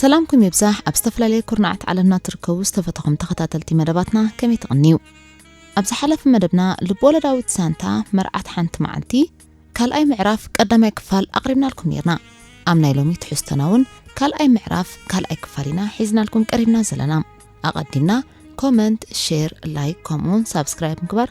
ሰላምኩም ይብዛሕ ኣብ ዝተፈላለየ ኩርናዓት ዓለምና ትርከቡ ዝተፈተኹም ተኸታተልቲ መደባትና ከመይ ትቕንዩ ኣብ ዝሓለፈ መደብና ልብወለዳዊት ሳንታ መርዓት ሓንቲ መዓልቲ ካልኣይ ምዕራፍ ቀዳማይ ክፋል ኣቕሪብናልኩም ነርና ኣብ ናይ ሎሚ ትሕዝቶና እውን ካልኣይ ምዕራፍ ካልኣይ ክፋል ኢና ሒዝናልኩም ቀሪብና ዘለና ኣቐዲምና ኮመንት ሼር ላይክ ከምኡውን ሳብስክራይብ ምግባር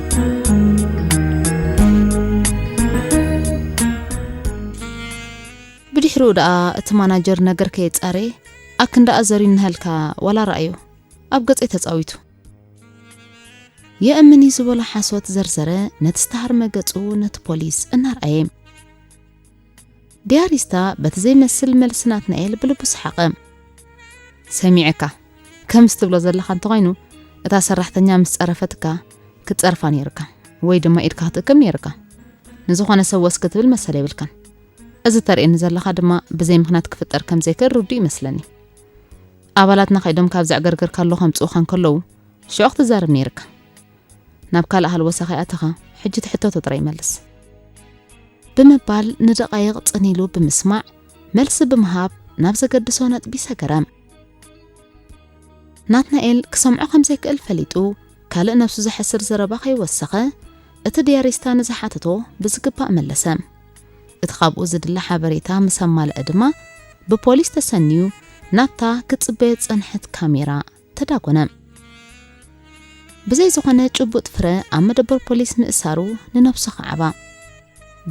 ብድሕሪኡ ደኣ እቲ ማናጀር ነገር ከየጻረየ ኣክንዳኣ ዘሪንሃልካ ዋላ ረኣዮ ኣብ ገጸይ ተጻዊቱ የእምን እዩ ዝበሎ ሓሶት ዘርዘረ ነቲ ዝተሃርመ ገጹ ነቲ ፖሊስ እናርኣየ ዲያሪስታ በቲ ዘይመስል መልሲ ናትናኤል ብልቡ ሰሓቐ ሰሚዐካ ከምስ ትብሎ ዘለኻ እንተኾይኑ እታ ሰራሕተኛ ምስ ጸረፈትካ ክትጸርፋ ነይርካ ወይ ድማ ኢድካ ክትእክብ ነይርካ ንዝኾነ ሰብ ወስ ክትብል መሰል የብልካን እዚ ተርእየኒ ዘለኻ ድማ ብዘይ ምኽንያት ክፍጠር ከም ዘይክእል ርዱ ይመስለኒ ኣባላትና ከይዶም ካብ ዘዕገርገርካ ኣሎ ከምጽኡኻ እንከለዉ ሽዑ ክትዛረብ ነይርካ ናብ ካልእ ሃልወሳ ከይኣተኻ ሕጂ እቲ ሕቶቶ ጥራይ መልስ። ብምባል ንደቓይቕ ጽን ኢሉ ብምስማዕ መልሲ ብምሃብ ናብ ዘገድሶ ነጥቢ ሰገረ። ናትናኤል ክሰምዖ ከም ዘይክእል ፈሊጡ ካልእ ነብሱ ዘሐስር ዘረባ ከይወሰኸ እቲ ድያሪስታ ንዝሓተቶ ብዝግባእ መለሰ። እቲ ካብኡ ዝድለ ሓበሬታ ምስ ኣማልአ ድማ ብፖሊስ ተሰንዩ ናብታ ክትጽበዮ ዝጸንሐት ካሜራ ተዳጎነ። ብዘይ ዝኾነ ጭቡጥ ፍረ ኣብ መደበር ፖሊስ ምእሳሩ ንነብሱ ከዓባ።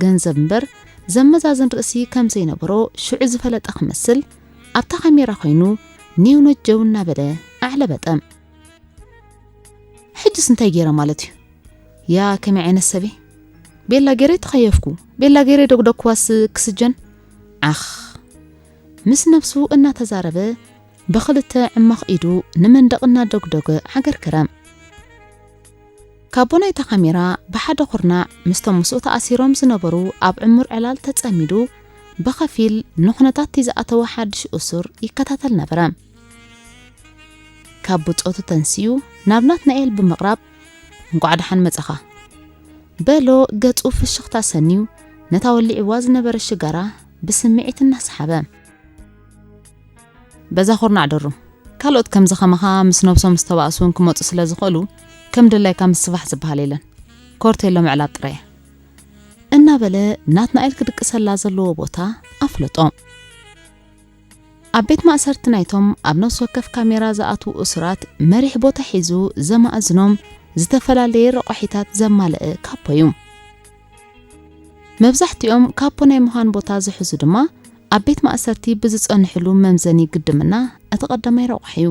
ገንዘብ እምበር ዘመዛዝን ርእሲ ከም ዘይነበሮ ሽዑ ዝፈለጠ ክመስል ኣብታ ካሜራ ኮይኑ ኒው ነጀው እናበለ ኣዕለበጠ። ሕጅስ እንታይ ገይረ ማለት እዩ? ያ ከመይ ዓይነት ሰበይ ቤላ ገይረ ተኸየፍኩ፣ ቤላ ገይረ ደጉደግኩዋስ ክስጀን ዓኽ ምስ ነብሱ እናተዛረበ ብኽልተ ዕማኽ ኢዱ ንመንደቕ እናደጉደገ ሓገር ክረም ካቦ ናይታ ካሜራ ብሓደ ኩርናዕ ምስቶም ምስኡ ተኣሲሮም ዝነበሩ ኣብ ዕሙር ዕላል ተጸሚዱ ብኸፊል ንኹነታትቲ ዝኣተወ ሓድሽ እሱር ይከታተል ነበረ። ካብ ብጾቱ ተንስኡ ናብ ናትናኤል ብምቕራብ እንቋዕ ደሓን መጻኻ በሎ። ገጹ ፍሽኽታ ሰንዩ ነታ ወሊዕዋ ዝነበረ ሽጋራ ብስምዒት እናሰሓበ በዛ ኩርናዕ ድሩ ካልኦት ከምዚ ከማኻ ምስ ነብሶም ዝተባእሱ ውን ክመጹ ስለ ዝኽእሉ ከም ድላይካ ምስፋሕ ዝብሃል የለን ኮርቴሎ ምዕላብ ጥራይ እያ እናበለ ናትናኤል ክድቅሰላ ዘለዎ ቦታ ኣፍለጦ። ኣብ ቤት ማእሰርቲ ናይቶም ኣብ ነፍሲ ወከፍ ካሜራ ዝኣትዉ እሱራት መሪሕ ቦታ ሒዙ ዘማእዝኖም ዝተፈላለየ ረቋሒታት ዘማለአ ካፖ እዩ። መብዛሕቲኦም ካፖ ናይ ምዃን ቦታ ዝሕዙ ድማ ኣብ ቤት ማእሰርቲ ብዝጸንሕሉ መምዘኒ ግድምና እቲ ቀዳማይ ረቋሒ እዩ።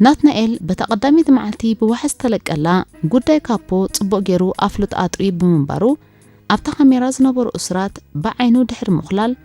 ናትናኤል በታ ቀዳመይቲ መዓልቲ ብዋሕስ ዝተለቀላ ጉዳይ ካፖ ጽቡቕ ገይሩ ኣፍልጦ ኣጥርዩ ብምንባሩ ኣብታ ካሜራ ዝነበሩ እሱራት ብዓይኑ ድሕሪ ምኹላል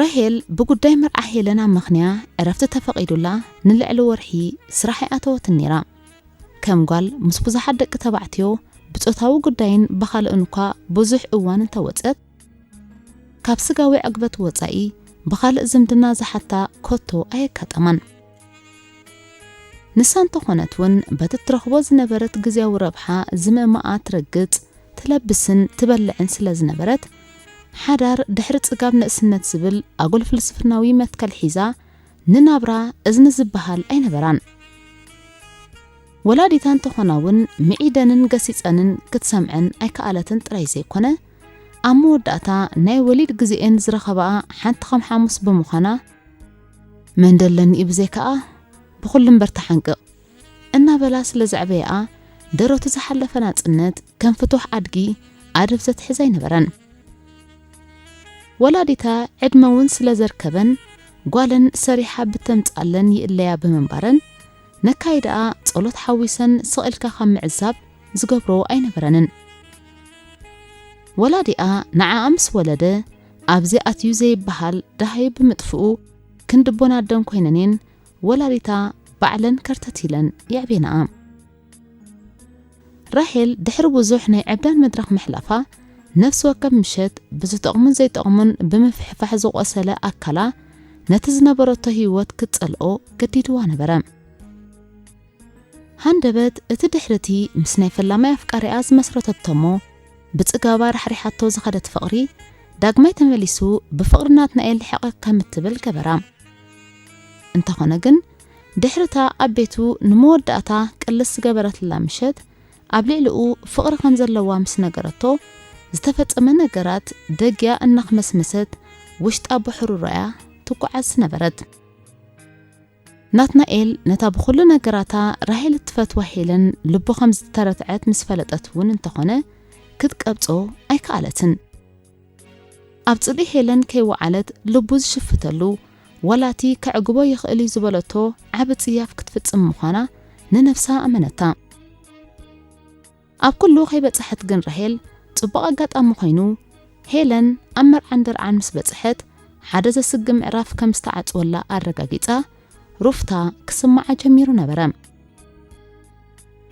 ራሄል ብጉዳይ መርዓ ሄለን ኣመኽንያ ዕረፍቲ ተፈቒዱላ ንልዕሊ ወርሒ ስራሕ ኣይኣተወትን ነይራ። ከም ጓል ምስ ብዙሓት ደቂ ተባዕትዮ ብጾታዊ ጉዳይን ብኻልእን እኳ ብዙሕ እዋን እንተወጸት፣ ካብ ስጋዊ ዕግበት ወጻኢ ብኻልእ ዝምድና ዝሓታ ከቶ ኣየጋጠማን። ንሳ እንተኾነት ውን በቲ እትረኽቦ ዝነበረት ግዝያዊ ረብሓ ዝምእማኣ ትረግጽ፣ ትለብስን ትበልዕን ስለ ዝነበረት፣ ሓዳር ድሕሪ ጽጋብ ንእስነት ዝብል ኣጉል ፍልስፍናዊ መትከል ሒዛ ንናብራ እዝኒ ዝበሃል ኣይነበራን። ወላዲታ እንተኾና ውን ምዒደንን ገሲጸንን ክትሰምዐን ኣይከኣለትን ጥራይ ዘይኮነ፣ ኣብ መወዳእታ ናይ ወሊድ ግዜኤን ዝረኸባኣ ሓንቲ ከም ሓሙስ ብምዃና፣ መን ደለኒ'ዩ ብዘይካኣ ብኹሉ እምበር ተሓንቅቕ እናበላ ስለ ዘዕበያኣ ደረቱ ዝሓለፈ ናጽነት ከም ፍቱሕ ኣድጊ ኣደብ ዘትሕዝ ኣይነበረን። ወላዲታ ዕድመ እውን ስለ ዘርከበን ጓለን ሰሪሓ ብተምጽኣለን ይእለያ ብምንባረን ነካይዳኣ ጸሎት ሓዊሰን ስቕ ኢልካ ካብ ምዕዛብ ዝገብሮ ኣይነበረንን። ወላዲኣ ንዓኣ ምስ ወለደ ኣብዚ ኣትዩ ዘይበሃል ደሃይ ብምጥፍኡ ክንዲ ቦን ኣደን ኮይነንየን ወላዲታ ባዕለን ከርተት ኢለን የዕቤናኣ። ራሄል ድሕሪ ብዙሕ ናይ ዕብዳን መድረኽ ምሕላፋ ነፍሲ ወከፍ ምሸት ብዝጠቕሙን ዘይጠቕሙን ብምፍሕፋሕ ዝቖሰለ ኣካላ ነቲ ዝነበረቶ ህይወት ክትጸልኦ ገዲድዋ ነበረ። ሃንደበት እቲ ድሕሪ እቲ ምስ ናይ ፈላማይ ኣፍቃሪኣ ዝመስረተቶ እሞ ብጽጋባ ራሕሪሓቶ ዝኸደት ፍቕሪ ዳግማይ ተመሊሱ ብፍቕሪ ናትናኤል ልሕቕቕ ከም እትብል ገበራ። እንተኾነ ግን ድሕሪ እታ ኣብ ቤቱ ንመወዳእታ ቅልስ ዝገበረትላ ምሸት ኣብ ልዕሊኡ ፍቕሪ ከም ዘለዋ ምስ ነገረቶ ዝተፈጸመ ነገራት ደግያ እናኽመስመሰት ውሽጣ ብሕሩሮ'ያ ትጓዓዝ ዝነበረት። ናትናኤል ነታ ብኹሉ ነገራታ ራሄል እትፈትዋ ሄለን ልቡ ከም ዝተረትዐት ምስ ፈለጠት እውን እንተኾነ ክትቀብጾ ኣይከኣለትን። ኣብ ጽልኢ ሄለን ከይወዓለት ልቡ ዝሽፍተሉ ዋላ እቲ ከዕግቦ ይኽእል እዩ ዝበለቶ ዓቢ ጽያፍ ክትፍጽም ምዃና ንነብሳ ኣመነታ። ኣብ ኩሉ ከይበጽሐት ግን ራሄል ጽቡቕ ኣጋጣሚ ኮይኑ ሄለን ኣብ መርዓን ደርዓን ምስ በጽሐት ሓደ ዘስግእ ምዕራፍ ከም ዝተዓጽወላ ኣረጋጊጻ ሩፍታ ክስምዓ ጀሚሩ ነበረ።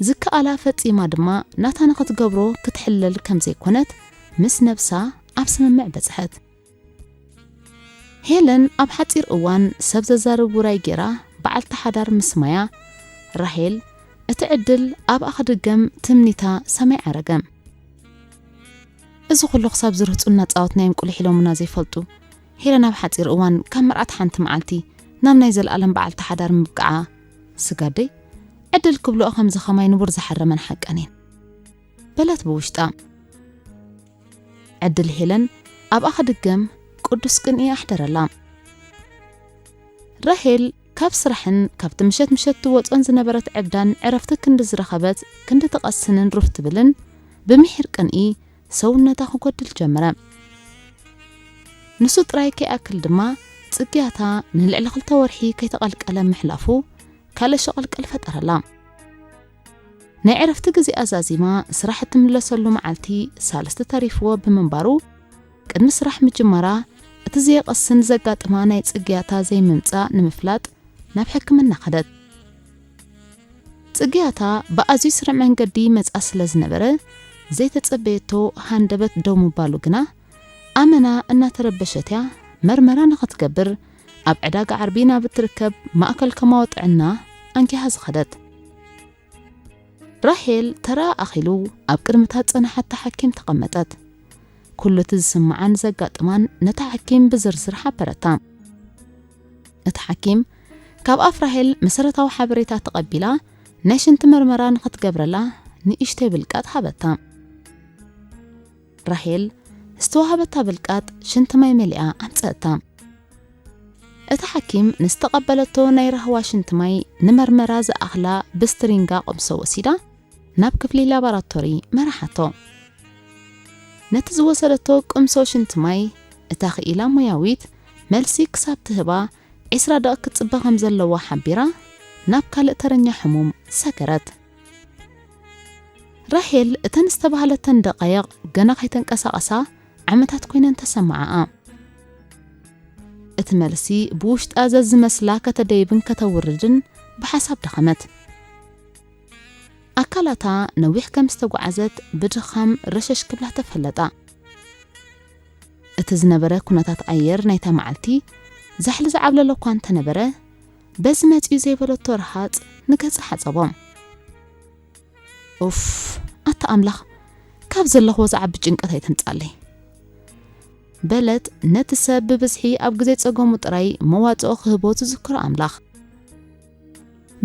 ዝከኣላ ፈጺማ ድማ ናታ ንኽትገብሮ ክትሕለል ከም ዘይኮነት ምስ ነብሳ ኣብ ስምምዕ በጽሐት። ሄለን ኣብ ሓጺር እዋን ሰብ ዘዛርብ ውራይ ጌራ በዓልቲ ሓዳር ምስ ማያ፣ ራሄል፣ እቲ ዕድል ኣብኣ ክድገም ትምኒታ ሰማይ ዓረገ። እዚ ኩሉ ክሳብ ዝርህጹ እናጻወትናዮም ቁሊሕ ኢሎሙና ዘይፈልጡ፣ ሄለን ኣብ ሓጺር እዋን ካብ መርዓት ሓንቲ መዓልቲ ናብ ናይ ዘልኣለም በዓልቲ ሓዳር ምብቅዓ፣ ስጋደይ ዕድል ክብልኦ ከምዚ ከማይ ንቡር ዝሓረመን ሓቀን እየን። በለት ብውሽጣ። ዕድል ሄለን ኣብኣ ክድገም ቅዱስ ቅንኢ ኣሕደረላ። ራሄል ካብ ስራሕን ካብቲ ምሸት ምሸት ትወጾን ዝነበረት ዕብዳን ዕረፍቲ ክንዲ ዝረኸበት ክንዲ ትቐስንን ሩፍ ትብልን ብምሒር ቅንኢ ሰውነታ ክጎድል ጀመረ። ንሱ ጥራይ ከይኣክል ድማ ጽግያታ ንልዕሊ ክልተ ወርሒ ከይተቐልቀለ ምሕላፉ ካልእ ሸቐልቀል ፈጠረላ። ናይ ዕረፍቲ ግዜኣ ዛዚማ ስራሕ እትምለሰሉ መዓልቲ ሳልስቲ ተሪፍዎ ብምንባሩ ቅድሚ ስራሕ ምጅማራ እቲ ዘየቐስን ዘጋጥማ ናይ ጽግያታ ዘይምምጻእ ንምፍላጥ ናብ ሕክምና ከደት። ጽግያታ ብኣዝዩ ስርዕ መንገዲ ይመጽኣ ስለ ዝነበረ ዘይተጸበየቶ ሃንደበት ደው ምባሉ ግና ኣመና እናተረበሸት'ያ መርመራ ንኽትገብር ኣብ ዕዳጋ ዓርቢ ናብ እትርከብ ማእከል ከማዊ ጥዕና ኣንጊሃ ዝኸደት። ራሄል ተራኣ ኣኺሉ ኣብ ቅድሚ'ታ ዝጸንሓታ ሓኪም ተቐመጠት። ኩሉ እቲ ዝስምዓን ዘጋጥማን ነታ ሓኪም ብዝርዝር ሓበረታ። እታ ሓኪም ካብ ኣፍ ራሄል መሰረታዊ ሓበሬታ ተቐቢላ ናይ ሽንቲ መርመራ ንኽትገብረላ ንእሽተይ ብልቃጥ ሃበታ። ራሄል ዝተዋህበታ ብልቃጥ ሽንቲ ማይ መሊኣ ኣምጸእታ። እታ ሓኪም ንዝተቐበለቶ ናይ ራህዋ ሽንቲ ማይ ንመርመራ ዝኣኽላ ብስትሪንጋ ቐምሶ ወሲዳ ናብ ክፍሊ ላባራቶሪ መራሓቶ። ነቲ ዝወሰደቶ ቅምሶ ሽንቲ ማይ እታ ክኢላ ሞያዊት መልሲ ክሳብ ትህባ ዒስራ ደቒቕ ክትጽበ ከም ዘለዋ ሓቢራ ናብ ካልእ ተረኛ ሕሙም ሰገረት። ራሄል እተን ዝተባህለተን ደቓይቕ ገና ከይተንቀሳቐሳ ዓመታት ኮይነን ተሰማዓኣ። እቲ መልሲ ብውሽጣ ዘዝመስላ ከተደይብን ከተውርድን ብሓሳብ ደኸመት። ኣካላታ ነዊሕ ከም ዝተጓዓዘት ብድኻም ረሸሽ ክብላ ተፈለጣ። እቲ ዝነበረ ኩነታት ኣየር ናይታ መዓልቲ ዛሕሊ ዝዓብለሎ እኳ እንተነበረ በዚ መጺኡ ዘይበለቶ ረሃጽ ንገጻ ሓጸቦም። ኡፍ ኣታ ኣምላኽ ካብ ዘለኽዎ ዝዓቢ ጭንቀት ኣይተምጻለይ። በለት ነቲ ሰብ ብብዝሒ ኣብ ግዜ ጸገሙ ጥራይ መዋጽኦ ክህቦ ዝዝክሮ ኣምላኽ።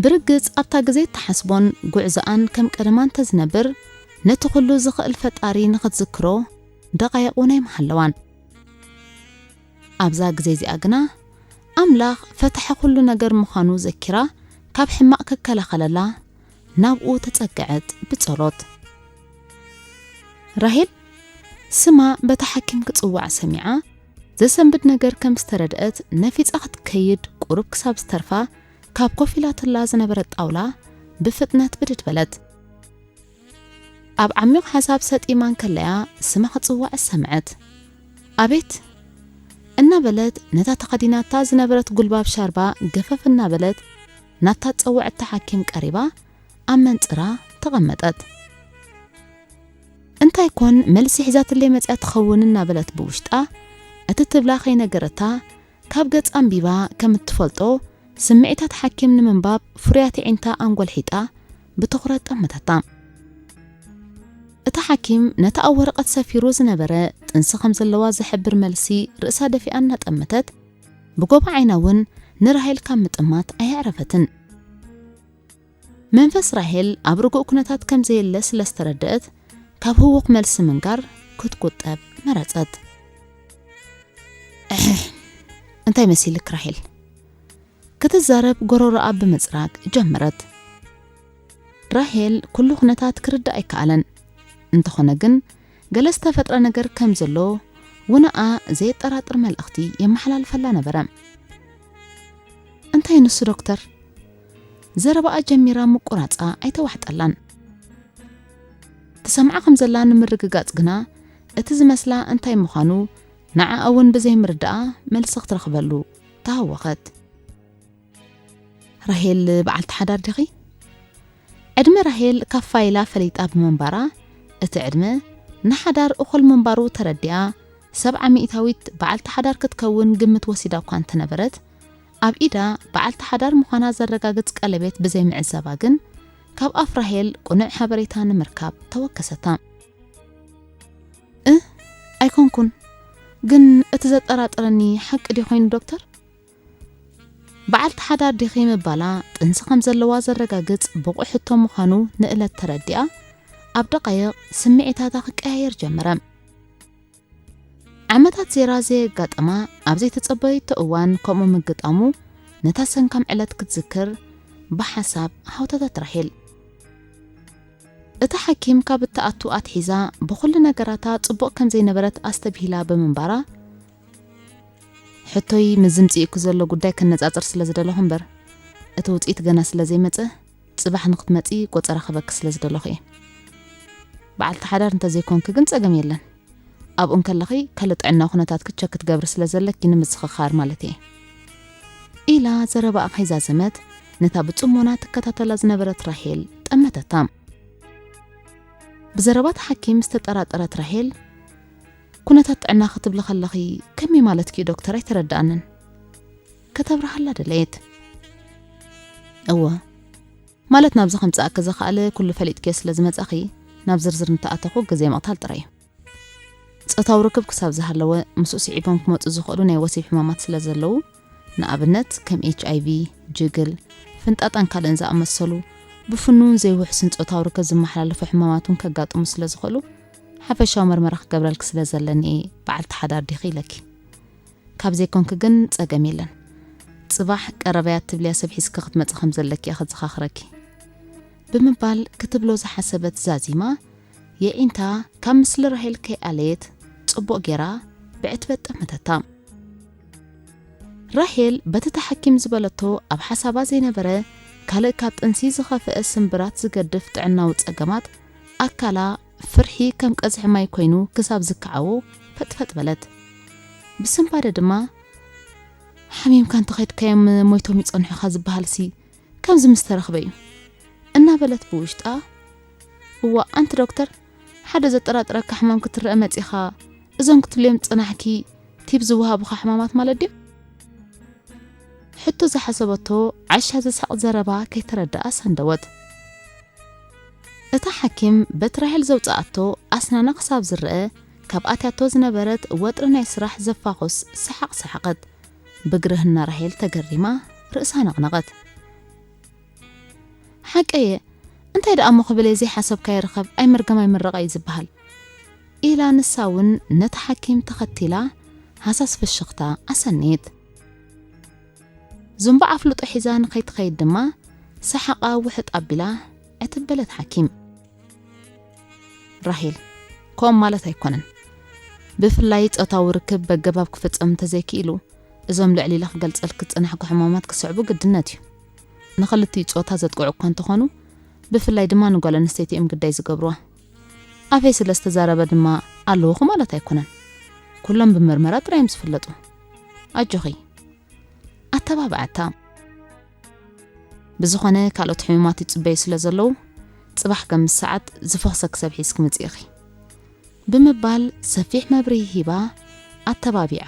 ብርግጽ ኣብታ ግዜ እትሓስቦን ጉዕዞኣን ከም ቀደማ እንተዝነብር ነቲ ኩሉ ዝኽእል ፈጣሪ ንኽትዝክሮ ደቓይቕ ውን ኣይምሃለዋን። ኣብዛ ግዜ እዚኣ ግና፣ ኣምላኽ ፈታሒ ዅሉ ነገር ምዃኑ ዘኪራ፣ ካብ ሕማቕ ኪከላኸለላ ናብኡ ተጸግዐት ብጸሎት። ራሄል ስማ በታ ሓኪም ክጽዋዕ ሰሚዓ፣ ዘሰንብድ ነገር ከም ዝተረድአት ነፊጻ ክትከይድ ቁሩብ ክሳብ ዝተርፋ ካብ ኮፍ ኢላትላ ዝነበረት ጣውላ ብፍጥነት ብድድ በለት። ኣብ ዓሚቕ ሓሳብ ሰጢማ እንከለ'ያ ስማ ክትጽዋዕ ዝሰምዐት። ኣቤት! እናበለት ነታ ተኸዲናታ ዝነበረት ጉልባብ ሻርባ ገፈፍ እናበለት ናብታ ጸዋዕቲ ሓኪም ቀሪባ ኣብ መንጽራ ተቐመጠት። እንታይ ኮን መልሲ ሒዛትለይ መጺኣ ትኸውን እናበለት ብውሽጣ እቲ ትብላ ከይነገረታ ካብ ገጽ ኣንቢባ ከም እትፈልጦ፣ ስምዒታት ሓኪም ንምንባብ ፍሩያት የዒንታ ኣንጐልሒጣ ብትዅረት ጠመተታ። እቲ ሓኪም ነቲ ኣብ ወረቐት ሰፊሩ ዝነበረ ጥንሲ ከም ዘለዋ ዝሕብር መልሲ ርእሳ ደፊኣ እናጠመተት፣ ብጐቦ ዓይና እውን ንራሄል ካብ ምጥማት ኣየዕረፈትን። መንፈስ ራሄል ኣብ ርጉእ ኩነታት ከም ዘየለ ስለ ዝተረደኣት፣ ካብ ህዉኽ መልሲ ምንጋር ክትቁጠብ መረጸት። እሕሕ! እንታይ መሲልክ ራሄል? ክትዛረብ ጎሮሮኣ ብምጽራግ ጀመረት። ራሄል ኩሉ ኩነታት ክርዳእ ኣይከኣለን። እንተኾነ ግን ገለ ዝተፈጥረ ነገር ከም ዘሎ ውነኣ ዘየጠራጥር መልእኽቲ የመሓላልፈላ ነበረ። እንታይ ንሱ ዶክተር? ዘረባኣ ጀሚራ ምቁራጻ ኣይተዋሕጠላን። ትሰምዓ ከም ዘላ ንምርግጋጽ ግና እቲ ዝመስላ እንታይ ምዃኑ ንዓኣ እውን ብዘይምርዳኣ መልሲ ክትረኽበሉ ተሃወኸት። ራሄል በዓልቲ ሓዳር ዲኺ? ዕድመ ራሄል ካብ ፋይላ ፈሊጣ ብምንባራ እቲ ዕድመ ንሓዳር እኹል ምንባሩ ተረዲኣ ሰብዓ ሚእታዊት በዓልቲ ሓዳር ክትከውን ግምት ወሲዳ እኳ እንተነበረት ኣብ ኢዳ በዓልቲ ሓዳር ምዃና ዘረጋግጽ ቀለቤት ብዘይ ምዕዛባ ግን፣ ካብ ኣፍ ራሄል ቅኑዕ ሓበሬታ ንምርካብ ተወከሰታ። እ ኣይኮንኩን፣ ግን እቲ ዘጠራጥረኒ ሓቂ ድዩ ኮይኑ ዶክተር? በዓልቲ ሓዳር ዲኺ ምባላ፣ ጥንሲ ከም ዘለዋ ዘረጋግጽ ብቑዕ ሕቶ ምዃኑ ንእለት ተረዲኣ፣ ኣብ ደቓይቕ ስምዒታታ ክቀያየር ጀመረ። ዓመታት ዜራዘ የጋጠማ ኣብ ዘይተጸበየቶ እዋን ከምኡ ምግጣሙ ነታ ሰንካም ዕለት ክትዝክር ብሓሳብ ሃውታታት ራሄል እታ ሓኪም ካብ እትኣቱ ኣትሒዛ ብኹሉ ነገራታ ጽቡቕ ከም ዘይነበረት ኣስተብሂላ ብምንባራ ሕቶይ ምስ ዝምጽእኩ ዘሎ ጉዳይ ከነጻጽር ስለ ዝደለኹ እምበር እቲ ውጽኢት ገና ስለ ዘይመጸ ጽባሕ ንክትመጺ ቆጸራ ክህበኪ ስለ ዝደለኹ እየ። በዓልቲ ሓዳር እንተ ዘይኮንኪ ግን ጸገም የለን። ኣብኡ እንከለኺ ከል ጥዕናዊ ኩነታትኪ ቸክ ክትገብሪ ስለ ዘለኪ ንምዝኽኻር ማለተይ እየ። ኢላ ዘረባኣ ከይዛዘመት ነታ ብጽሞና ትከታተላ ዝነበረት ራሄል ጠመተታ። ብዘረባ እቲ ሓኪም ዝተጠራጠረት ራሄል ኩነታት ጥዕና ክትብሊ ከለኺ ከመይ ማለትኪ እዩ ዶክተር ኣይተረድኣንን። ከተብርሃላ ደለየት። እወ፣ ማለት ናብዚ ከምጽኣኪ ዘኽኣለ ኩሉ ፈሊጥክዮ ስለ ዝመጻኺ፣ ናብ ዝርዝር እንተኣተኹ ግዜ ምቕታል ጥራይ እዩ። ጾታዊ ርክብ ክሳብ ዝሃለወ፣ ምስኡ ስዒቦም ክመጹ ዝኽእሉ ናይ ወሲብ ሕማማት ስለ ዘለዉ፣ ንኣብነት ከም ኤችኣይቪ፣ ጅግል፣ ፍንጣጣን ካልእን ዝኣመሰሉ ብፍኑውን ዘይውሕስን ጾታዊ ርክብ ዝመሓላለፉ ሕማማት እውን ከጋጥሙ ስለ ዝኽእሉ፣ ሓፈሻዊ መርመራ ክገብረልኪ ስለ ዘለኒ እየ በዓልቲ ሓዳር ዲኺ ኢለኪ። ካብ ዘይኮንኪ ግን ጸገም የለን። ጽባሕ ቀረበያ እትብልያ ሰብ ሒዝኪ ክትመጺ ከም ዘለኪ'የ ከዘኻኽረኪ። ብምባል ክትብሎ ዝሓሰበት ዛዚማ የዒንታ ካብ ምስሊ ራሄል ከይኣለየት ጽቡቕ ጌራ ብዕትበት ጠመተታ። ራሄል በቲ ተሓኪም ዝበለቶ ኣብ ሓሳባ ዘይነበረ ካልእ ካብ ጥንሲ ዝኸፍአ ስምብራት ዝገድፍ ጥዕናዊ ጸገማት ኣካላ ፍርሒ ከም ቀዝሒ ማይ ኮይኑ ክሳብ ዝከዓዎ ፈጥፈጥ በለት። ብስንባደ ድማ ሓሚምካ እንተኸድካዮም ሞይቶም ይጸንሑ ኢኻ ዝበሃልሲ ከምዚ ምስ ተረኽበ'ዩ። እናበለት ብውሽጣ እዋእ ኣንቲ ዶክተር ሓደ ዘጠራጥረካ ሕማም ክትረኣ መጺኻ እዞም ክትብልዮም ዝጸናሕኪ ቲብ ዝወሃቡኻ ሕማማት ማለት ድዮም? ሕቶ ዝሓሰበቶ ዓሻ ዘስሕቕ ዘረባ ከይተረድኣ ሰንደወት። እታ ሓኪም በት ራሄል ዘውጽኣቶ ኣስናና ክሳብ ዝረኣ ካብ ኣትያቶ ዝነበረት ወጥሪ ናይ ስራሕ ዘፋኹስ ሰሓቕ ሰሓቐት። ብግርህና ራሄል ተገሪማ ርእሳ ነቕነቐት። ሓቀየ እንታይ ደኣሞ ክብለየ ዘይሓሰብካዮ ርኸብ ኣይምርገም ኣይምረቐ እዩ ዝበሃል ኢላ ንሳ እውን ነታ ሓኪም ተኸቲላ ሃሳስ ፍሽኽታ ኣሰነየት። ዝንቡዕ ኣፍልጦ ሒዛ ንኸይትኸይድ ድማ ሰሓቓ ውሕጥ ኣቢላ ዕትብ በለት ሓኪም። ራሄል ከምኡ ማለት ኣይኮነን። ብፍላይ ጾታዊ ርክብ በገባብ ክፍጸም እንተዘይክኢሉ እዞም ልዕሊ ኢለ ክገልጸልኪ ዝጸናሕኩ ሕማማት ክስዕቡ ግድነት እዩ። ንኽልቲኡ ጾታ ዘጥቅዑ እኳ እንተኾኑ ብፍላይ ድማ ንጓል ኣንስተይቲ እዮም ግዳይ ዝገብሩዋ። ኣፌ ስለ ዝተዛረበ ድማ ኣለውኹ ማለት ኣይኮነን ኩሎም ብምርመራ ጥራይ እዮም ዝፍለጡ ኣጆኺ ኣተባብዐታ ብዝኾነ ካልኦት ሕሙማት ይጽበዩ ስለ ዘለዉ ጽባሕ ከም ምስ ሰዓት ዝፈኽሰ ክሰብ ሒዝኪ ምጽኢኺ ብምባል ሰፊሕ መብርሂ ሂባ ኣተባቢዓ